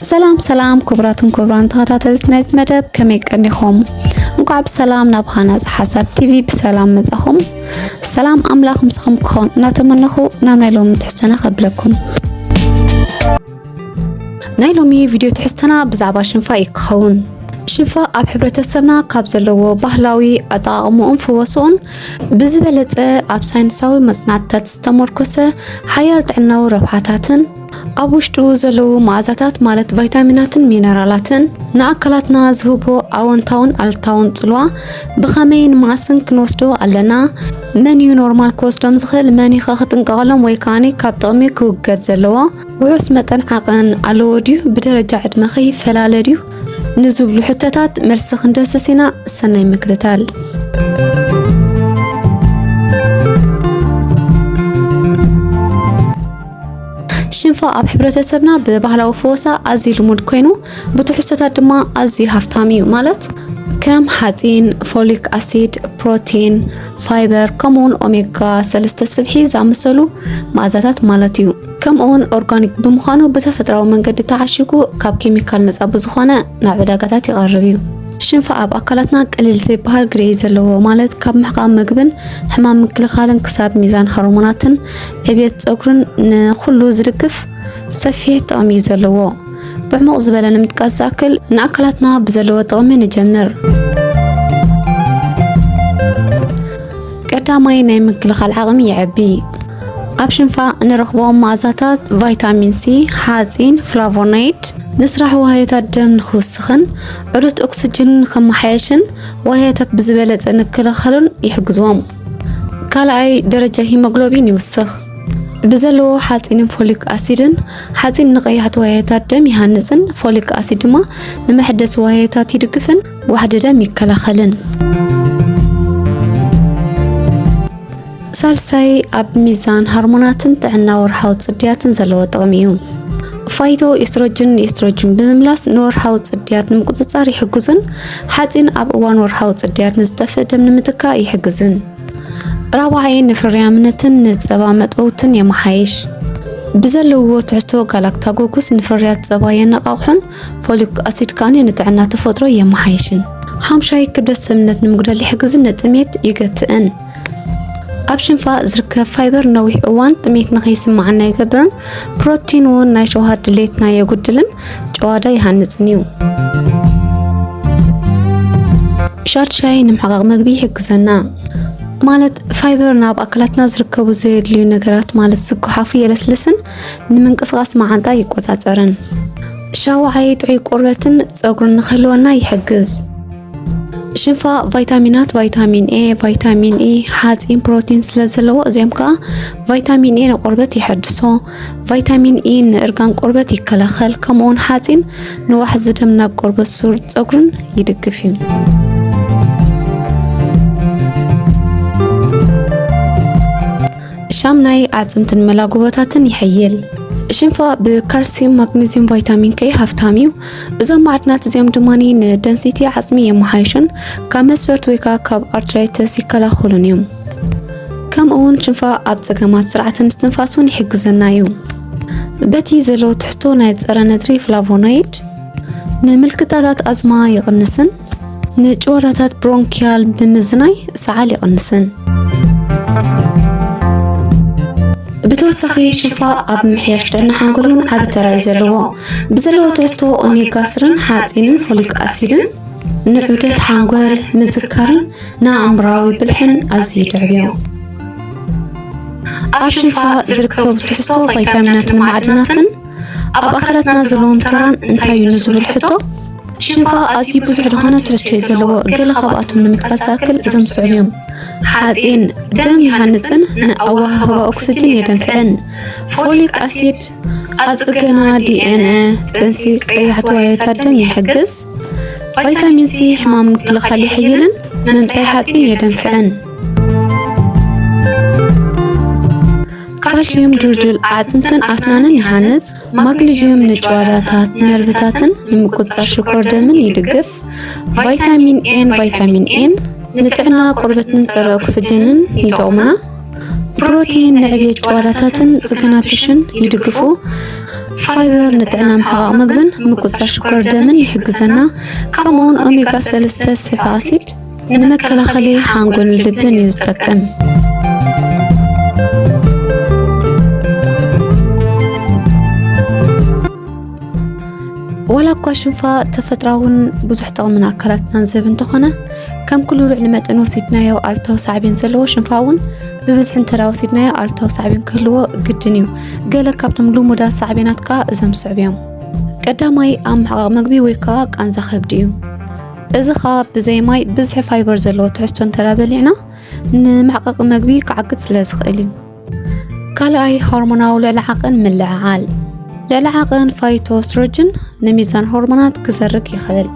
ሰላም ሰላም ክቡራትን ክቡራን ተኸታተልቲ ናይዚ መደብ ከመይ ቀኒኹም? እንኳዕ ብሰላም ናብ ሃናፅ ሓሳብ ቲቪ ብሰላም መጻኹም። ሰላም ኣምላኽ ምስኹም ክኸውን እናተመነኹ ናብ ናይ ሎሚ ትሕዝቶና ከብለኩም። ናይ ሎሚ ቪድዮ ትሕዝቶና ብዛዕባ ሽንፋ እዩ ክኸውን። ሽንፋ ኣብ ሕብረተሰብና ካብ ዘለዎ ባህላዊ ኣጠቃቅምኡን ፍወስኡን ብዝበለፀ ኣብ ሳይንሳዊ መፅናዕትታት ዝተመርኮሰ ሓያል ጥዕናዊ ረብሓታትን ኣብ ውሽጡ ዘለዉ መኣዛታት ማለት ቫይታሚናትን ሚነራላትን ንኣካላትና ዝህቦ ኣወንታውን ኣልታውን ጽልዋ ብኸመይን መኣስን ክንወስዶ ኣለና? መን እዩ ኖርማል ክወስዶም ዝኽእል? መን እዩ ክጥንቀቐሎም ወይ ከዓኒ ካብ ጥቕሚ ክውገድ ዘለዎ? ውሑስ መጠን ዓቐን ኣለዎ ድዩ? ብደረጃ ዕድመ ኸ ይፈላለ ድዩ? ንዝብሉ ሕቶታት መልሲ ክንደስስ ኢና። ሰናይ ምክትታል። ሽንፋ ኣብ ሕብረተሰብና ብባህላዊ ፈወሳ ኣዝዩ ልሙድ ኮይኑ ብትሕዝቶታት ድማ ኣዝዩ ሃፍታም እዩ ማለት ከም ሓፂን፣ ፎሊክ ኣሲድ፣ ፕሮቲን፣ ፋይበር ከምኡውን ኦሜጋ ሰለስተ ስብሒ ዝኣመሰሉ መኣዛታት ማለት እዩ። ከምኡውን ኦርጋኒክ ብምዃኑ ብተፈጥራዊ መንገዲ ተዓሽጉ ካብ ኬሚካል ነፃ ብዝኾነ ናብ ዕዳጋታት ይቐርብ እዩ። ሽንፋ ኣብ ኣካላትና ቅልል ዘይበሃል ግደ እዩ ዘለዎ ማለት ካብ ምሕቃም ምግብን ሕማም ምክልኻልን ክሳብ ሚዛን ሆርሞናትን ዕብየት ፀጉርን ንኩሉ ዝድግፍ ሰፊሕ ጥቕሚ እዩ ዘለዎ። ብዕሙቕ ዝበለ ንምጥቃስ ዝኣክል ንኣካላትና ብዘለዎ ጥቕሚ ንጀምር። ቀዳማይ ናይ ምክልኻል ዓቕሚ የዕቢ። ኣብ ሽንፋ እንረኽቦም መኣዛታት ቫይታሚን ሲ፣ ሓፂን፣ ፍላቮናይድ ንስራሕ ዋህዮታት ደም ንክውስኽን ዑደት ኦክስጅን ንክመሓየሽን ዋህዮታት ብዝበለፀ ንክልኸሉን ይሕግዝዎም። ካልኣይ ደረጃ ሂሞግሎቢን ይውስኽ። ብዘለዎ ሓፂንን ፎሊክ ኣሲድን ሓፂን ንቀያሕቲ ዋያታት ደም ይሃንፅን ፎሊክ ኣሲድ ድማ ንመሐደሲ ዋያታት ይድግፍን ዋሕዲ ደም ይከላኸልን። ሳልሳይ ኣብ ሚዛን ሃርሞናትን ጥዕና ወርሓዊ ፅድያትን ዘለዎ ጥቕሚ እዩ። ፋይቶ ኤስትሮጅን ንኤስትሮጅን ብምምላስ ንወርሓዊ ፅድያት ንምቁፅፃር ይሕግዙን ሓጺን ኣብ እዋን ወርሓዊ ጽድያት ንዝጠፍእ ደም ንምትካእ ይሕግዝን ራብዓይ ንፍርያምነትን ንጸባ መጥበውትን የመሓይሽ። ብዘለዎ ትሕቶ ጋላክታጎጉስ ንፍርያት ጸባ የነቓቕሑን ፎሊክ ኣሲድ ከኣ ንጥዕና ተፈጥሮ የመሓይሽን። ሓምሻይ ክብደት ሰብነት ንምጉዳል ይሕግዝን ንጥሜት ይገትእን። ኣብ ሽንፋ ዝርከብ ፋይበር ነዊሕ እዋን ጥሜት ንኸይስምዓና ይገብርን ፕሮቲን እውን ናይ ሸውሃት ድሌትና የጉድልን ጨዋዳ ይሃንፅን እዩ ሻድ ሻይ ንምሕቃቕ መግቢ ይሕግዘና ማለት ፋይበር ናብ ኣካላትና ዝርከቡ ዘየድልዩ ነገራት ማለት ዝጎሓፉ የለስልስን ንምንቅስቓስ መዓንጣ ይቆፃፀርን ሻውዓይ ጥዑይ ቆርበትን ፀጉርን ንክህልወና ይሕግዝ ሽፋ ቫይታሚናት ቫይታሚን ኤ ቫይታሚን ኢ ሓፂን ፕሮቲን ስለ ዘለዎ እዚኦም ከዓ ቫይታሚን ኤ ንቆርበት ይሐድሶ ቫይታሚን ኢ ንእርጋን ቆርበት ይከላኸል ከምኡውን ሓፂን ንዋሕዚ ደም ናብ ቆርበት ሱር ፀጉርን ይድግፍ እዩ ሻምናይ ኣፅምትን መላጉበታትን ይሕይል ሽንፋ ብካልሲየም ማግኔዚየም ቫይታሚን ከይ ሃፍታም እዩ እዞም ማዕድናት እዚኦም ድማ ንደንሲቲ ዓጽሚ የመሓይሹን ካብ መስፈርት ወይ ከዓ ካብ ኣርትራይተስ ይከላኸሉን እዮም። ከምኡ እውን ሽንፋ ኣብ ጸገማት ስርዓተ ምስትንፋስ እውን ይሕግዘና እዩ። በቲ ዘለዎ ትሕቶ ናይ ጸረ ነድሪ ፍላቮኖይድ ንምልክታታት ኣዝማ ይቕንስን ንጭዋዳታት ብሮንኪያል ብምዝናይ ሰዓል ይቕንስን። ብተወሳኺ ሽንፋ ኣብ ምሕያሽ ደና ሓንጎልን ዓቢ ተራ እዩ ዘለዎ ብዘለዎ ትሕዝቶ ኦሜጋ ስርን ሓፂንን ፎሊክ ኣሲድን ንዑደት ሓንጎል ምዝካርን ንኣእምራዊ ብልሕን ኣዝዩ ይድዕብ እዩ ኣብ ሽንፋ ዝርከቡ ትሕዝቶ ቫይታሚናትን ማዕድናትን ኣብ ኣካላትና ዘለዎም ተራን እንታይ እዩ ንዝብል ሕቶ ሽንፋ ኣዝዩ ብዙሕ ዝኾነ ትሕዝቶ እዩ ዘለዎ ገለ ካብኣቶም ንምጥቃስ ዝኣክል እዞም ዝስዕቡ እዮም ሓፂን ደም ይሃንፅን ንኣወሃህባ ኦክስጅን የደንፍዕን ፎሊክ ኣሲድ ኣብ ፅገና ዲኤንኤ ጥንሲ ቀያሕቲ ዋየታት ደም ይሕግዝ ቫይታሚን ሲ ሕማም ምክልኻል ይሕይልን መምፀይ ሓፂን የደንፍዕን ካልሽየም ድልዱል ኣዕፅምትን ኣስናንን ይሃንፅ፣ ማግኒዥየም ንጭዋዳታት ነርቭታትን ንምቁፅፃር ሽኮር ደምን ይድግፍ፣ ቫይታሚን ኤን ቫይታሚን ኤን ንጥዕና ቆርበትን ፀረ ኦክስጅንን ይጠቕሙና፣ ፕሮቲን ንዕብየት ጭዋዳታትን ፅገና ቲሽን ይድግፉ፣ ፋይበር ንጥዕና ምሕቓቕ ምግብን ምቁፅፃር ሽኮር ደምን ይሕግዘና፣ ከምኡውን ኦሜጋ ሰለስተ ስብሒ ኣሲድ ንመከላኸሊ ሓንጎልን ልብን እዩ ዝጠቅም። ዋላ እኳ ሽንፋ ተፈጥራውን ብዙሕ ጥቕሚ ኣካላትናን ዝህብ እንተኾነ ከም ኩሉ ልዕሊ መጠን ወሲድናዮ ኣልታዊ ሳዕቤን ዘለዎ ሽንፋ እውን ብብዝሒ እንተ ወሲድናዮ ኣልታዊ ሳዕቤን ክህልዎ ግድን እዩ ገለ ካብቶም ልሙዳት ሳዕቤናት ከዓ እዞም ስዕብ እዮም ቀዳማይ ኣብ ምሕቓቕ ምግቢ ወይ ከዓ ቃንዛ ከብዲ እዩ እዚ ኸኣ ብዘይ ማይ ብዝሒ ፋይበር ዘለዎ ትሕዝቶ እንተ በሊዕና ንመዕቐቒ መግቢ ክዓግት ስለ ዝኽእል እዩ። ካልኣይ ሆርሞናዊ ልዕሊ ዓቕን ምልዕዓል ልዕሊ ዓቕን ፋይቶስትሮጅን ንሚዛን ሆርሞናት ክዘርግ ይኽእል።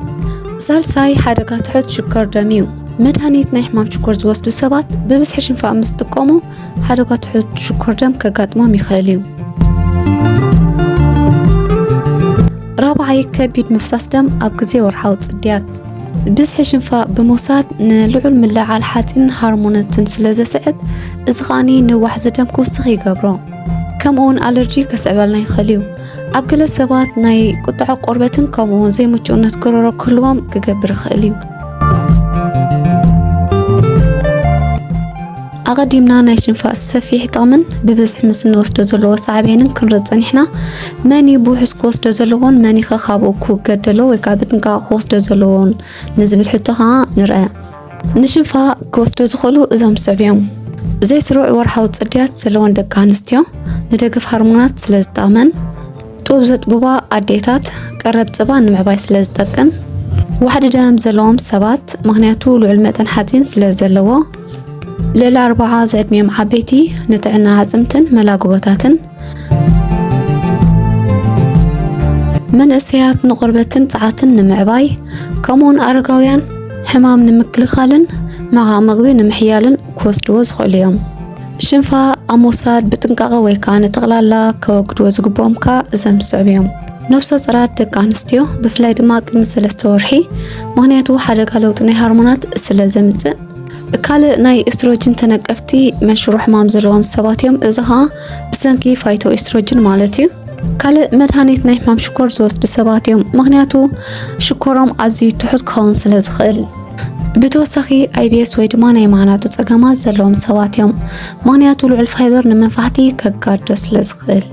ሳልሳይ ሓደጋ ትሑት ሽኮር ደም እዩ። መድሃኒት ናይ ሕማም ሽኮር ዝወስዱ ሰባት ብብዝሒ ሽንፋእ ምስ ዝጥቀሙ ሓደጋ ትሑት ሽኮር ደም ከጋጥሞም ይኽእል እዩ። ራብዓይ ከቢድ ምፍሳስ ደም ኣብ ግዜ ወርሓዊ ጽድያት ብዝሒ ሽንፋ ብምውሳድ ንልዑል ምልዕዓል ሓፂን ሃርሞነትን ስለ ዘስዕብ እዚ ከዓኒ ንዋሕዚ ደም ክውስኽ ይገብሮ ከምኡውን ኣለርጂ ከስዕበልና ይኽእል እዩ ኣብ ገለ ሰባት ናይ ቁጥዐ ቆርበትን ከምኡውን ዘይምቹእነት ጎረሮ ክህልዎም ክገብር ይኽእል እዩ ኣቐዲምና ናይ ሽንፋስ ሰፊሕ ጥቕምን ብብዝሒ ምስ እንወስዶ ዘለዎ ሳዕቤንን ክንርድ ጸኒሕና መን እዩ ብውሑስ ክወስዶ ዘለዎን መን ይኸ ካብኡ ክውገደሎ ወይ ከዓ ብጥንቃቕ ክወስዶ ዘለዎን ንዝብል ሕቶ ከዓ ንርአ ንሽንፋ ክወስዶ ዝኽእሉ እዞም ዝስዕብ እዮም ዘይስሩዕ ወርሓዊ ጽድያት ዘለወን ደቂ ኣንስትዮ ንደገፍ ሃርሞናት ስለ ዝጠቕመን ጡብ ዘጥብባ ኣዴታት ቀረብ ጽባ ንምዕባይ ስለ ዝጠቅም ዋሕዲ ደም ዘለዎም ሰባት ምክንያቱ ልዑል መጠን ሓፂን ስለ ዘለዎ ልዕሊ ኣርባዓ ዝዕድሚኦም ዓበይቲ ንጥዕና ኣዕፅምትን መላግቦታትን መንእሰያት ንቆርበትን ጸዓትን ንምዕባይ ከምኡውን ኣረጋውያን ሕማም ንምክልኻልን መዓ ምግቢ ንምሕያልን ክወስድዎ ዝኽእሉ እዮም። ሽንፋ ኣብ ምውሳድ ብጥንቃቐ ወይ ከዓ ንጠቕላላ ከወግድዎ ዝግብኦም ከዓ እዘም ዝስዕቡ እዮም። ነብሰ ጸራት ደቂ ኣንስትዮ ብፍላይ ድማ ቅድሚ ሰለስተ ወርሒ ምክንያቱ ሓደጋ ለውጢ ናይ ሃርሞናት ስለ ዘምጽእ ካልእ ናይ ኤስትሮጅን ተነቀፍቲ መንሽሮ ሕማም ዘለዎም ሰባት እዮም። እዚ ከዓ ብሰንኪ ፋይቶ ኤስትሮጅን ማለት እዩ። ካልእ መድሃኒት ናይ ሕማም ሽኮር ዝወስዱ ሰባት እዮም፣ ምክንያቱ ሽኮሮም ኣዝዩ ትሑት ክኸውን ስለ ዝኽእል። ብተወሳኺ ኣይቢኤስ ወይ ድማ ናይ ማህናጡ ጸገማት ዘለዎም ሰባት እዮም ምክንያቱ ልዑል ፋይበር ንመንፋሕቲ ከጋዶ ስለ ዝኽእል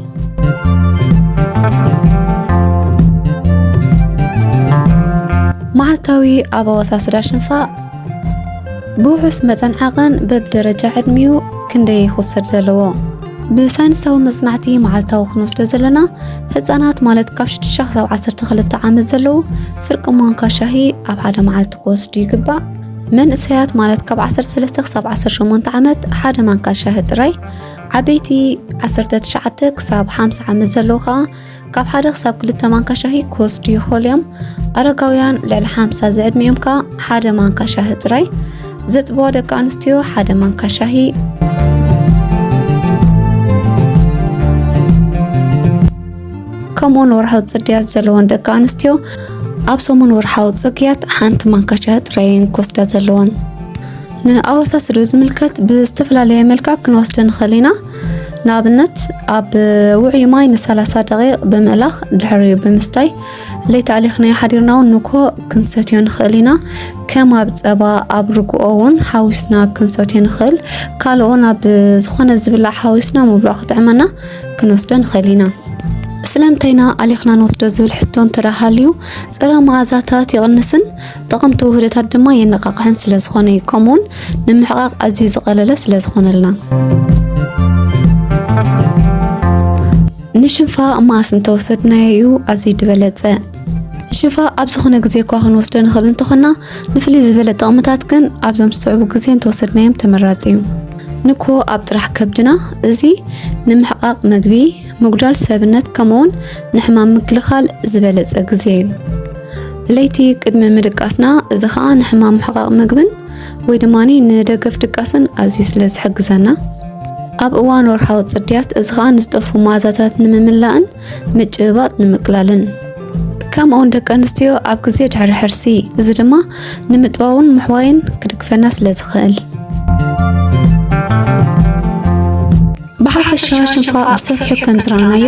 መዓልታዊ ኣብ ኣወሳስዳ ሽንፋ ብውሑስ መጠን ዓቐን በብደረጃ ዕድሚኡ ክንደይ ይኹሰድ ዘለዎ ብሳይንሳዊ መጽናዕቲ መዓልታዊ ክንወስዶ ዘለና ህፃናት ማለት ካብ 6 ክሳብ 12 ዓመት ዘለዉ ፍርቂ ማንካ ሻሂ ኣብ ሓደ መዓልቲ ክወስዱ ይግባእ መንእሰያት ማለት ካብ 13 ክሳብ 18 ዓመት ሓደ ማንካ ሻሂ ጥራይ ዓበይቲ 19 ክሳብ 50 ዓመት ዘለዉ ከዓ ካብ ሓደ ክሳብ ክልተ ማንካ ሻሂ ክወስዱ ይኽእሉ እዮም። ኣረጋውያን ልዕሊ ሓምሳ ዝዕድሚኦም ከዓ ሓደ ማንካ ሻሂ ጥራይ፣ ዘጥብዋ ደቂ ኣንስትዮ ሓደ ማንካ ሻሂ ከምኡውን ወርሓዊ ፅድያት ዘለወን ደቂ ኣንስትዮ ኣብ ሰሙን ወርሓዊ ፅግያት ሓንቲ ማንካ ሻሂ ጥራይ እየን ክወስዳ ዘለወን። ንኣወሳስዶ ዝምልከት ብዝተፈላለየ መልክዕ ክንወስደ ንኽእል ኢና። ንኣብነት ኣብ ውዑይ ማይ ን30 ደቂቕ ብምእላኽ ድሕሪ ብምስታይ ለይቲ ኣሊኽናዮ ሓዲርና እውን ንኮ ክንሰትዮ ንኽእል ኢና። ከም ኣብ ጸባ ኣብ ርግኦ እውን ሓዊስና ክንሰትዮ ንኽእል። ካልኦ ናብ ዝኾነ ዝብላዕ ሓዊስና ምብልዑ ክጥዕመና ክንወስዶ ንኽእል ኢና። ስለምንታይና ኣሊኽና ንወስዶ ዝብል ሕቶ እንተደኣ ሃልዩ፣ ጸረ መኣዛታት ይቕንስን ጠቐምቲ ውህደታት ድማ የነቓቕሕን ስለ ዝኾነ እዩ ከምኡውን ንምሕቓቕ ኣዝዩ ዝቐለለ ስለ ዝኾነልና ንሽንፋ ማስ እንተወሰድናዮ እዩ ኣዝዩ ዝበለፀ ሽፋ ኣብ ዝኾነ ግዜ እኳ ክንወስዶ ንኽእል እንተኾና ንፍልይ ዝበለ ጥቕምታት ግን ኣብዞም ዝስዕቡ ግዜ እንተወሰድናዮም ተመራፂ እዩ ንኮ ኣብ ጥራሕ ከብድና እዚ ንምሕቃቕ መግቢ ምጉዳል ሰብነት ከምኡውን ንሕማም ምክልኻል ዝበለጸ ግዜ እዩ። ለይቲ ቅድሚ ምድቃስና እዚ ከዓ ንሕማም ምሕቓቕ ምግብን ወይ ድማ ንደገፍ ድቃስን ኣዝዩ ስለ ዝሕግዘና ኣብ እዋን ወርሓዊ ጽድያት እዚ ከዓ ንዝጠፉ መኣዛታት ንምምላእን ምጭብባጥ ንምቅላልን ከምኡውን ደቂ ኣንስትዮ ኣብ ግዜ ድሕሪ ሕርሲ እዚ ድማ ንምጥባውን ምሕዋይን ክድግፈና ስለ ዝኽእል ብሓፈሻ ሽንፋ ብሰፊሑ ከም ዝረኣናዮ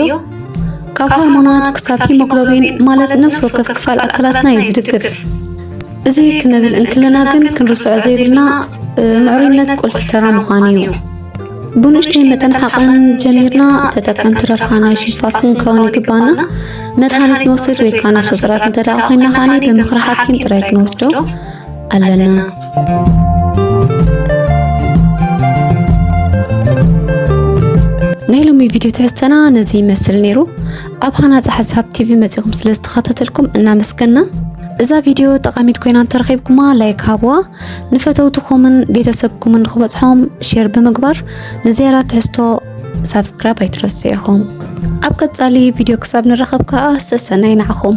ካብ ሃርሞናት ክሳብ ሂሞግሎቢን ማለት ነፍሲ ወከፍ ክፋል ኣካላትና እዩ ዝድግፍ። እዚ ክንብል እንክለና ግን ክንርስዖ ዘይብልና እ፣ ምዕሩይነት ቁልፊ ተራ ምዃኑ እዩ። ብንእሽተይ መጠን ሓቕን ጀሚርና ተጠቀምቲ ረብሓ ናይ ሽንፋ ክንከውን ይግባና። መድሃኒት ንወስድ ወይ ከዓ ነፍሰ ፁራት እንተደኣ ኮይና ከዓኒ ብምኽሪ ሓኪም ጥራይ ክንወስዶ ኣለና። ናይ ሎሚ ቪድዮ ትሕዝተና ነዚ ይመስል ነይሩ። ኣብ ሃናፂ ሓሳብ ቲቪ መፂኹም ስለ ዝተኸታተልኩም እናመስገና እዛ ቪድዮ ጠቃሚት ኮይና እንተረኺብኩማ ላይክ ሃብዋ፣ ንፈተውትኹምን ቤተሰብኩምን ንክበፅሖም ሼር ብምግባር ንዝያዳ ትሕዝቶ ሳብስክራይብ ኣይትረስዑ ኢኹም። ኣብ ቀጻሊ ቪድዮ ክሳብ ንራኸብ ከኣ ሰሰናይ ንዓኹም።